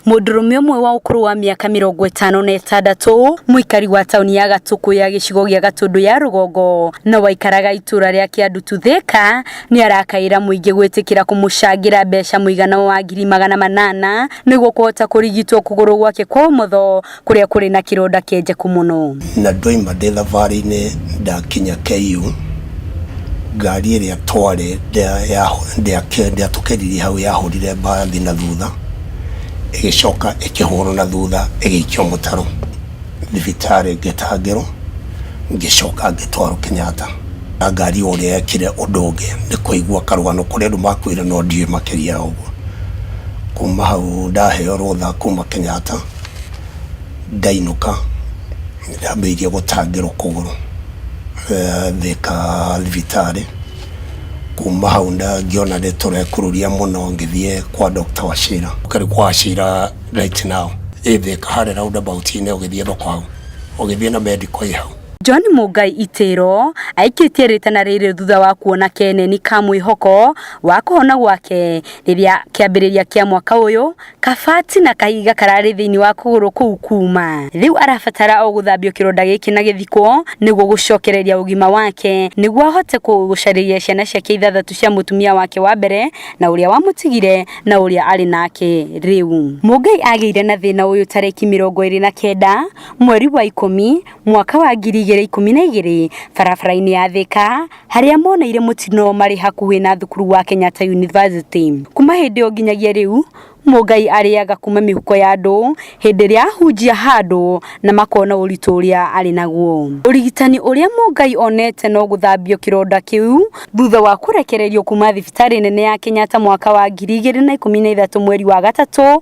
Mũndũrũme ũmwe wa ũkũrũ wa mĩaka mĩrongo ĩtano na ĩtandatũ mũikari wa taũni ya Gatũkũ ya gĩcigo gĩa Gatũndũ ya rũgongo na waikaraga itũra rĩa Kĩandutu Thĩka nĩ arakaĩra mũingĩ gwĩtĩkĩra kũmũcangĩra mbeca mũigana wa ngiri magana manana nĩguo kũhota kũrigitwo kũgũrũ gwake kwa ũmotho kũrĩa kũrĩ na kĩronda kĩenjeku mũno. Na ndoima ndĩ thabarĩ-inĩ ndakinya KU, ngari ĩrĩa twarĩ ndĩatũkĩririe hau yahũrire mbathi na thutha, ĩgĩcoka ĩkĩhũrwo na thutha ĩgĩikio mũtaro thibitarĩ ngĩtangĩrwo, ngĩcoka ngĩtwarwo Kenyatta. Na ngari o ũrĩa yekire ũndũ ũngĩ nĩ kũigua karũgano kũrĩ andũ makuire no ndiũĩ makĩria ya ũguo. Kuma hau ndaheo rũtha kuma Kenyatta. Ndainũka ndambĩrĩirie gũtangĩrwo kũgũrũ eh, Thika thibitarĩ. Kuma hau nda- ngĩona nĩ tũrekururia mũno ngĩthiĩ kwa Dr. Wachira. Ũkarĩ kwa Wachira right now ĩ Thika harĩ roundabout-inĩ ũgĩthiĩ thoko hau, ũgĩthiĩ na medical ĩ hau. John Mũngai Itĩro aikĩtie rĩtana rĩrĩ thutha wa kuona keneni ka mwĩhoko wa kũhona gwake rĩrĩa kĩambĩrĩria kĩa mwaka ũyũ Kabati na kahiga kararĩ thĩinĩ wa kũgũrũ kũu kuuma. Rĩu arabatara o gũthambio kĩronda gĩkĩ na gĩthikwo nĩguo gũcokereria ũgima wake nĩguo ahote kũ- gũcarĩria ciana ciake ithathatũ cia mũtumia wake wa mbere na ũrĩa wamũtigire na ũrĩa arĩ nake rĩu. Mũngai agĩire na thĩna ũyũ tarĩki mĩrongo ĩrĩ na kenda mweri wa ikũmi mwaka wa ngiri igĩrĩ ikũmi na igĩrĩ barabara-inĩ ya Thika harĩa moneire mũtino marĩ hakuhĩ na thukuru wa Kenyatta University. Kuma hĩndĩ ĩyo nginyagia rĩu Mũngai arĩaga kuma mĩhuko ya andũ hĩndĩ ĩrĩa ahunjia handũ na makona ũritũ ũrĩa arĩ naguo. Ũrigitani ũrĩa Mũngai onete no gũthambio kĩronda kĩu thutha wa kũrekererio kuma thibitarĩ nene ya Kenyatta mwaka wa ngiri igĩrĩ na ikũmi na ithatũ mweri wa gatatũ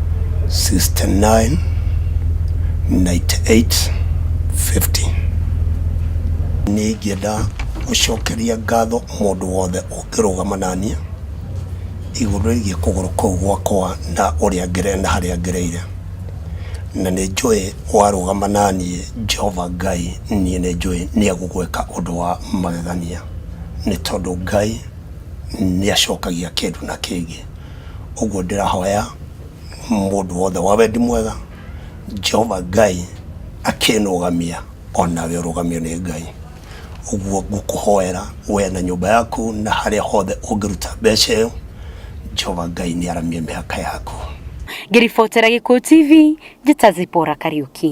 69 98 15 nĩ ingĩenda gũcokeria ngatho mũndũ wothe ũngĩrũgama naniĩ igũrũ rĩgiĩ kũgũrũ kũu gwakwa na ũrĩa ngere na harĩa ngereire na nĩ njũĩ warũgama naniĩ Jehova Ngai niĩ nĩ njũĩ nĩ egũgwĩka ũndũ wa magegania nĩ tondũ Ngai nĩ acokagia kĩndũ na kĩngĩ. Ũguo ndĩrahoya mũndũ wothe wa wendi mwega, Jehova Ngai akĩnũgamia, o nawe ũrũgamio nĩ Ngai. Ũguo ngũkũhoera wee na nyũmba yaku na harĩa hothe ũngĩruta mbeca ĩyo, Jehova Ngai nĩ aramie mĩhaka yaku. Ngĩribotera Gĩkũyũ TV, njĩta Zipora Kariuki.